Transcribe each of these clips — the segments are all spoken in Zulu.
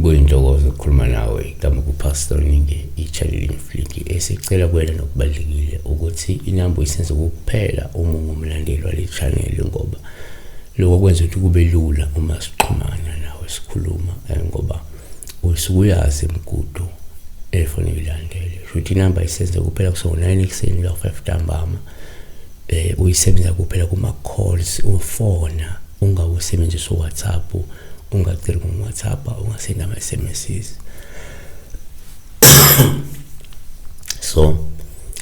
kuyintokozo ukukhuluma nawe igama kupastor ningi i-channel infliki esicela kuwena nokubalulekile ukuthi inamba uyisenze kuphela uma ungumlandeli wale channel ngoba lokho kwenza ukuthi kube lula uma sixhumana nawe sikhuluma eh, ngoba um usukuyazi mgudu efuna uyilandele shuthi inamba isenze kuphela kuso-9 ekuseni la-5 ntambama eh uyisebenzisa kuphela kuma-calls ufona ungawusebenzisa uwhatsapp ungaceli ngowhatsapp ungasenda ama-sms so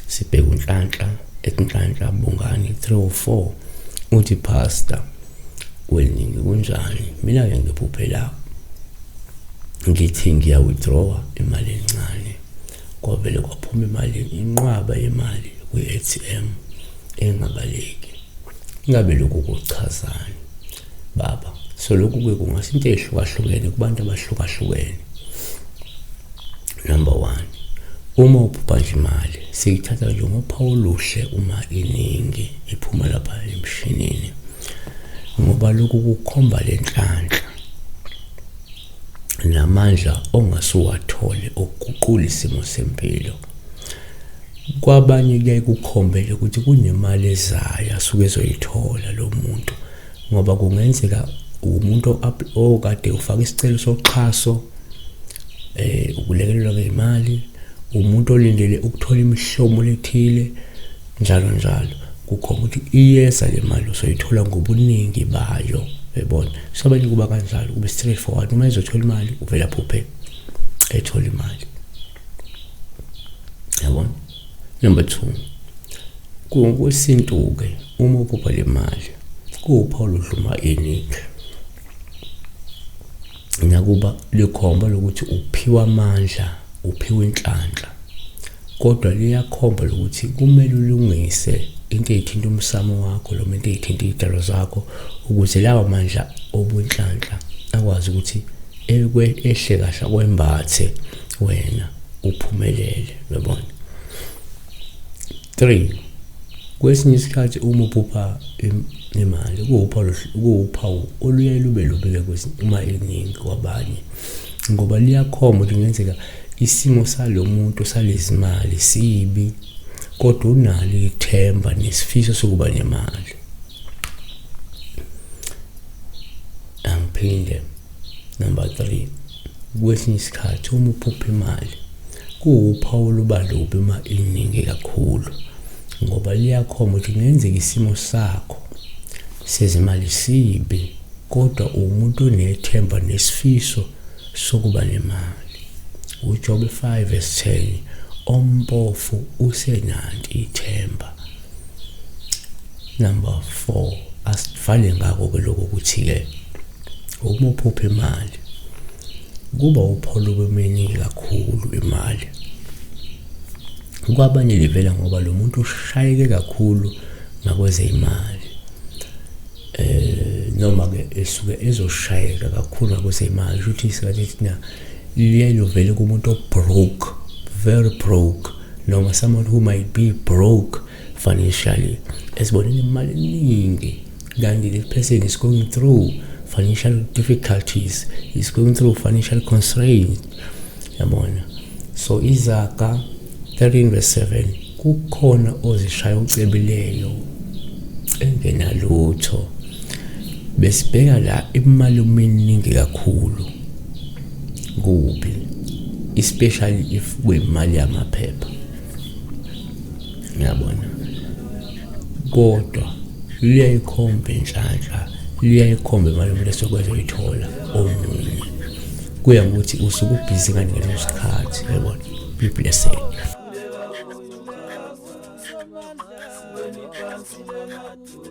sibheke unhlanhla ekunhlanhla bungani 304 uthi pastor kweningi kunjani mina ke ngiphuphela ngithi ngiya withdrawa imali encane kwavele kwaphuma imali inqwaba yemali kwi-ATM engabaleki ingabe lokhu kuchazani baba so lokhu ke kungase into eyehlukahlukene kubantu abahlukahlukene Number one, uma uphupha nje imali siyithatha nje ngophawu oluhle uma iningi iphuma lapha emshinini ngoba lokhu kukhomba le nhlanhla namandla ongasuwathole okuguqula isimo sempilo kwabanye kuyaye kukhombele ukuthi kunemali ezayo asuke ezoyithola lo muntu ngoba kungenzeka umuntu okade ufaka isicelo soxhaso eh ukulekelelwa ngemali umuntu olindele ukuthola imihlomo lethile njalo njalo kukhona ukuthi iyeza le mali usoyithola ngobuningi bayo uyabona so abanye kuba kanjalo kube straight forward uma ezothola imali uvela phuphe ethola imali Number 2. Kwesintu-ke uma uphupha le mali kuwupha oludluma iningi. Nakuba likhomba lokuthi uphiwa amandla, uphiwa inhlanhla. Kodwa liyakhomba lokuthi kumele ulungise into eyithinta umsamo wakho noma into eyithinta iy'tshalo zakho ukuze lawa mandla obunhlanhla akwazi ukuthi ehle kahle akwembathe wena uphumelele uyabona 3 kwesinye isikhathi uma uphupha imali kuwuphawu kuwuphawu oluye lube lubike kwesinye uma eningi kwabanye ngoba liyakhomba ukuthi kungenzeka isimo salo muntu salezimali sibi kodwa unalo ithemba nesifiso sokuba nemali angiphinde number 3 kwesinye isikhathi uma uphupha imali kuwuphawu lubalubi uma iningi kakhulu ngoba liyakhomba ukuthi kungenzeka isimo sakho sezimali sibi kodwa uwumuntu onethemba nesifiso sokuba nemali uJobe 5 verse 10 ompofu usenanti ithemba number 4 asivale ngako ke lokho ukuthi ke uma uphupha imali kuba upholo bemeningi kakhulu imali kwabanye livela ngoba lo muntu ushayeke kakhulu ngakwezeyimali eh noma-ke esuke ezoshayeka kakhulu ngakwezeyimali kusho ukuthi isikhathi thina liye lovele kumuntu obroke very broke noma someone who might be broke financially esibonile imali eningi Then the person is going through financial difficulties, is going through financial constraints. Yabona. So izaga 13 verse 7 kukhona ozishaya ucebileyo engenalutho besibheka la imali uminingi kakhulu kubi especially if kwemali yamaphepha ngiyabona kodwa luyayikhomba inhlanhla luyayikhomba imali umuntu esokwazi uyithola omunye kuya ngokuthi usuke ubhizi kani ngaleso sikhathi yabona be blessed Thank you.